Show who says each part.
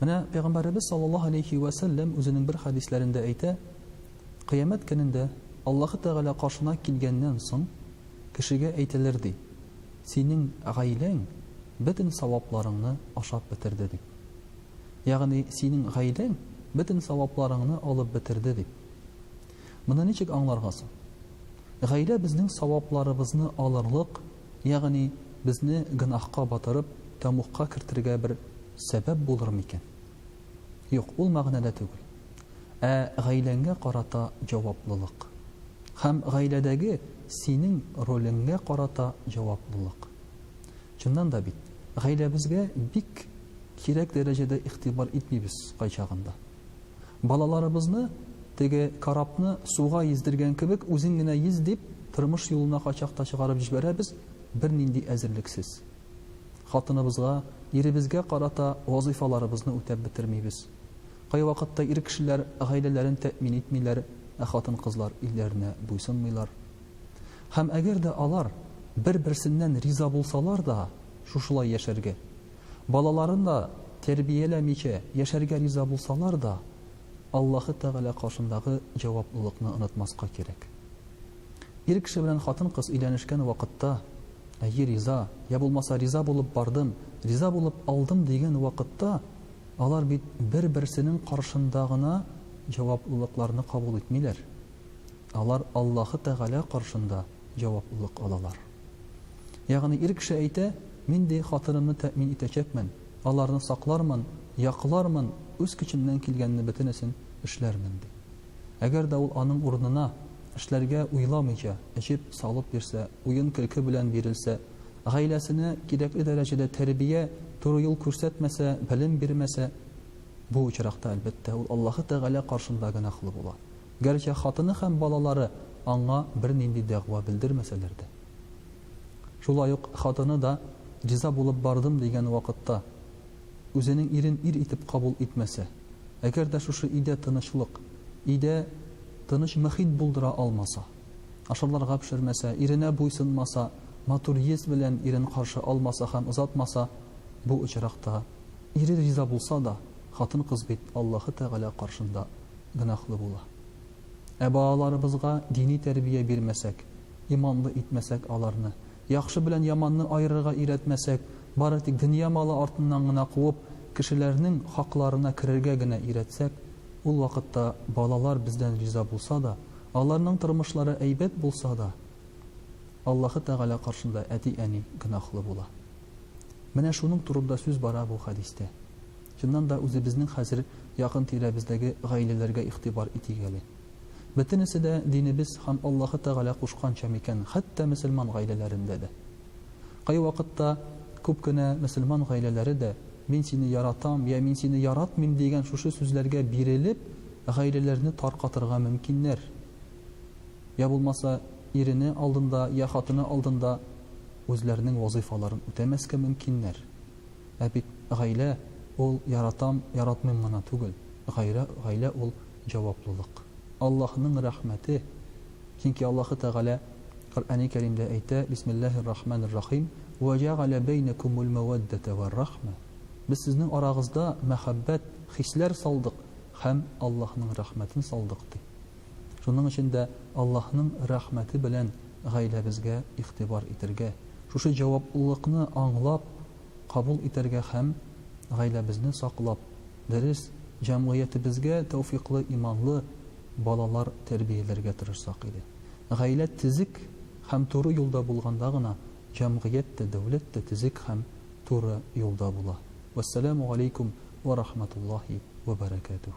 Speaker 1: Менә пәйгамбәребез саллаллаһу алейһи вә сәлләм үзенең бер хәдисләрендә әйтә, кыямәт көнендә Аллаһы Тәгалә каршына килгәннән соң, кешегә әйтелер, ди, Синең гаиләң бөтен савапларыңны ашап бетерде, дип. Ягъни, синең гаиләң бөтен савапларыңны алып бетерде, дип. Моны ничек аңларга соң? Гаилә безнең савапларыбызны алырлык Ягъни, безне гөнаһка батырып, тәмугка кертергә бер сәбәп булыр микән? Юк, ул мәгънәдә түгел. Ә гаиләңгә карата җаваплылык. Һәм гаиләдәге синең ролеңгә карата җаваплылык. Чыннан да бит, гаиләбезгә бик кирәк дәрәҗәдә игътибар итмибез кайчагында. Балаларыбызны, теге корабны суга ездергән кебек, үзең генә йөз дип, тормыш юлына кайчак та чыгарып җибәрәбез, бернинди әзерлексез. Хатыныбызга, иребезгә карата вазыйфаларыбызны үтәп бетермибез. Кайвакытта ир кешеләр гаиләләрен тәэмин итмиләр, ә хатын-кызлар ирләренә буйсынмыйлар. Һәм әгәр дә алар бер-берсеннән риза булсалар да, шушылай яшәргә, Балаларына тәрбияләмичә яшәргә риза булсалар да, Аллаһы Тәгалә каршындагы җаваплылыкны онытмаска кирәк. Ир кеше белән хатын-кыз өйләнешкән вакытта, әйе, риза, йә булмаса риза булып бардым, риза булып алдым дигән вакытта, алар бит бер-берсенең каршында гына җаваплылыкларны кабул итмиләр. Алар Аллаһы Тәгалә каршында җаваплылык алалар. Ягъни ир кеше әйтә, Мин ди хатынымны тәэмин итәчәкмен, аларны саклармын, яклармын, үз көчемнән килгәнне бөтенесен эшләрмен, ди. Әгәр дә ул аның урынына, эшләргә уйламыйча, эчеп, салып бирсә, уен-көлке белән бирелсә, гаиләсенә кирәкле дәрәҗәдә тәрбия, туры юл күрсәтмәсә, белем бирмәсә, бу очракта, әлбәттә, ул Аллаһы Тәгалә каршында гөнаһлы була. Гәрчә хатыны һәм балалары аңа бернинди дәгъва белдермәсәләр дә. Шулай ук хатыны да риза булып бардым дигән вакытта, үзенең ирен ир итеп кабул итмәсә, әгәр дә шушы өйдә тынычлык, өйдә тыныч мохит булдыра алмаса, ашарларга пешермәсә, иренә буйсынмаса, матур йөз белән ирен каршы алмаса һәм озатмаса, бу очракта, ире риза булса да, хатын-кыз бит Аллаһы Тәгалә каршында гөнаһлы була. Ә балаларыбызга дини тәрбия бирмәсәк, иманлы итмәсәк аларны, яхшы белән яманны аерырга өйрәтмәсәк, бары тик дөнья малы артыннан гына куып, кешеләрнең хакларына керергә генә өйрәтсәк, ул вакытта балалар бездән риза булса да, аларның тормышлары әйбәт булса да, Аллаһы Тәгалә каршында әти-әни гөнаһлы була. Менә шуның турында сүз бара бу хәдистә. Чыннан да, үзебезнең хәзер якын тирәбездәге гаиләләргә игътибар итик әле. Бөтенесе дә динебез һәм Аллаһы Тәгалә кушканча микән, хәтта мөселман гаиләләрендә дә? Кайвакытта күп кенә мөселман гаиләләре дә, Мин сине яратам, йә Мин сине яратмыйм дигән шушы сүзләргә бирелеп, гаиләләрне таркатырга мөмкиннәр. Йә булмаса, ирене алдында, йә хатыны алдында үзләренең вазыйфаларын үтәмәскә мөмкиннәр. Ә бит гаилә ул яратам, яратмыйм гына түгел, гаилә, гаилә ул җаваплылык. Аллаһының рәхмәте, чөнки Аллаһы Тәгалә Коръәни Кәримдә әйтә, Бисмиллаһи ррахманир рахим, Вә җәгалә бәйнәкумул мәвәддәтә вәр рәхмә, Без сезнең арагызда мәхәббәт, хисләр салдык һәм Аллаһының рәхмәтен салдык, ди. Шуның өчен дә Аллаһның рәхмәте белән гаиләбезгә игътибар итәргә, шушы җаваплылыкны аңлап, кабул итәргә һәм гаиләбезне саклап, дөрес, җәмгыятебезгә тәүфыйклы иманлы балалар тәрбияләргә тырышсак иде. Гаилә тезек һәм туры юлда булганда гына җәмгыять тә, дәүләт тә тезек һәм туры юлда була. Вәссәламү галәйкүм вә рахматуллаһи вә бәрәкәтүһ.